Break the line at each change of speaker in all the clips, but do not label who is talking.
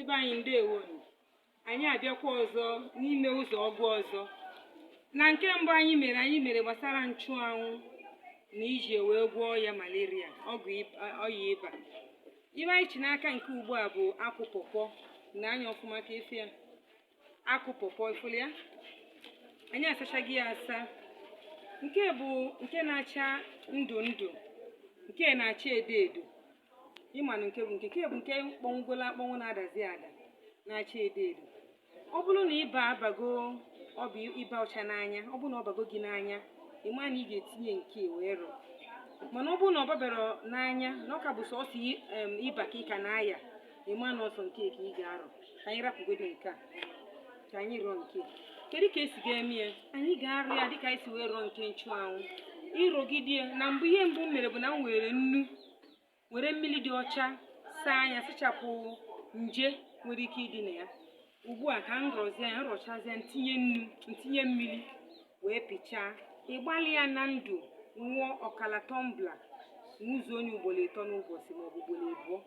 ibe anyị ndewo nụ. anyị abịakwa ọzọ n'ime ụzọ ọgwụ ọzọ na nke mbụ anyị mere anyị mere gbasara nchụanwụ na iji wee gwọọ ọya malaria ọgwụ ib- a- ọya ịba ihe anyị chị n'aka nke ugbu a bụ akwụ pọpọ nee anya ọfụma ka ị fụ ya akwụ pọpọ ị fụlụ ya anyị asachago ya asa nke bụ nke na-acha ndụ ndụ nke na-acha edo edo ị manụ nke bụ nke nke bụ nke kpọnwụgolu akpọnwụ na-adazi ada na-acha edo edo ọ bụrụ na ịba abago ọ bụ ịba ọcha n'anya ọ bụrụ na ọ bago gị n'anya ị ma na ị ga-etinye nke a wee rọọ mana ọ bụrụ na ọ baberọ n'anya na ọ ka bụ sọsọ i- em, ịba ka ị ka na-aya ị ma na ọ sọ nke a ka ị ga-arọ ka anyị rapụgodo nke a ka anyị rọọ nke a kedu ka e si ga-eme ya anyị ga-arọ ya dịka anyị si wee rọọ nke nchụanwụ ị rọgide ya na mbụ ihe mbụ m mere bụ na m were nnu were mmiri dị ọcha saa nya sachapụ nje nwere ike ịdị na ya ugbu a ka m rọzie ya m rọchazie ya m tinye mmiri wee pịchaa ị gbalịa na ndụ nwụọ ọkala tọmbla nwụzuo nya ugboro ịtọ n'ụbọchị maọbụ ugboro abụọ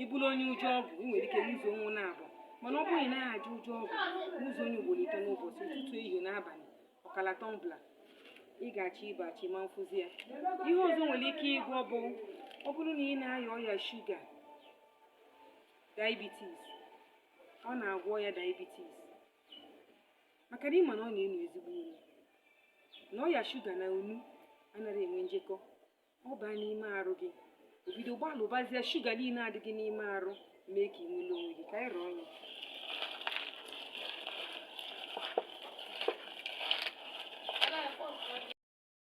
ị bụrụ onye ụjọ ọgwụ ị nwere ike nwụzuo nya naabọ mana ọ bụrụ na ị naghị ajọ ụjọ ọgwụ nwụzuo nya ugboro ịtọ n'ụbọchị ụtụtụ ehihie na abalị ọkala tọmbla ị ga-achọ ịba achọ ị ma afụzi ya ihe ọzọ o nwere ike ịgwọ bụ ọ bụrụ na ị na-aya ọya shuga diabetes ọ na-agwọ ọya diabetes maka na ị ma na ọ na-enu ezigbo inu na ọya shuga na inu anaghị enwe njekọ ọ baa n'ime arụ gị obido gbalụbazie shuga niile a dị gị n'ime arụ mee ka ị nwere onwe gị ka anyị rọọ nya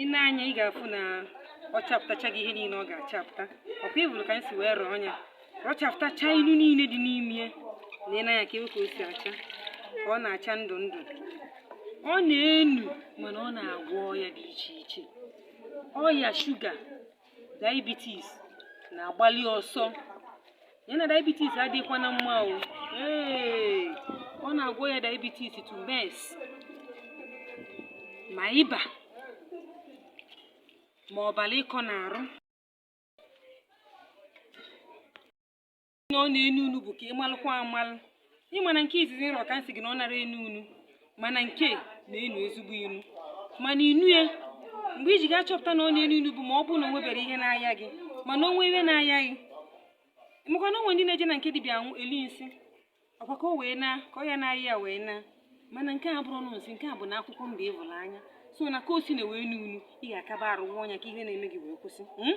ị nee anya ị ga-afụ na ọ chapụtachago ihe niile ọ ga-achapụta ọkwa ị fụrụ ka anyị si wee rọọ ya ọ chapụtacha inu niile dị n'ime ya nee anya ka ị hụ ka o si acha ka ọ na-acha ndụ ndụ ọ na-enu mana ọ na-agwọ ọya dị iche iche ọya shuga diabetes na-agbalị ọsọ ya na diabetes adịghịkwa na mma o ọ na-agwọ ọya diabetes too much ma ịba ma ọbara ịkọ n'arụ ọ na-enu inu bụ ka ị malụkwa amalụ ị ma na nke izizi m rọ ka m sị gị na ọ narọ enu inu mana nke a na-enu ezigbo inu mana inu ya mgbe ị ji ga-achọpụta na ọ na-enu inu bụ ma ọ bụrụ na o nweberọ ihe na-aya gị mana o nwee ihe na-aya gị maka na o nwe ndị na-eje na nke dibịa anwụ eli nsị ọkwa ka o wee naa ka ọya na-aya ya wee naa mana nke a abụrọ nsị nke a bụ na akwụkwọ mba ị fụrụ anya so na ka o si na wee nuo inu ị ga-akaba arụ nwụọ nya ka ihe na-eme gị wee kwụsị hmm?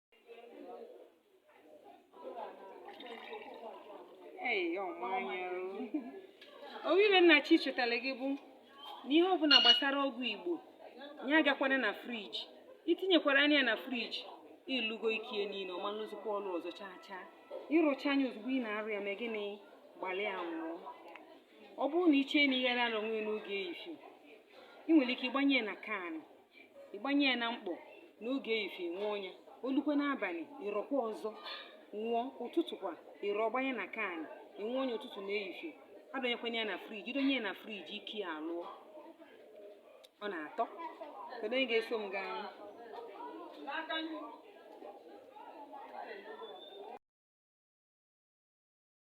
o nwe ihe m na-achọ ichetara gị bụ na ihe ọbụla gbasara ọgwụ igbo ya agakwana na friji i tinyekwara ya na friji ị lụgo ike ya niile ọ ma-alụzikwa ọrụ ọzọ chaa chaa ị rọchaa ya ozugbo ị na-arọ ya mee gịnị gbalịa nwụọ ọ bụrụ na i chee na ị na-arọnwu ya n'oge efifie ị nwere ike ịgbanye ya na can ịgbanye ya na mkpọ n'oge efifie nwụọ ya o lukwee n'abalị ị rọkwa ọzọ nwụọ ụtụtụ kwa ị rọ gbanye na can ị nwụọ ya ụtụtụ na efifie adọnyekwana ya na friji i donye ya na friji ike ya alụọ ọ na-atọ kedu onye ga-eso m gaa anyị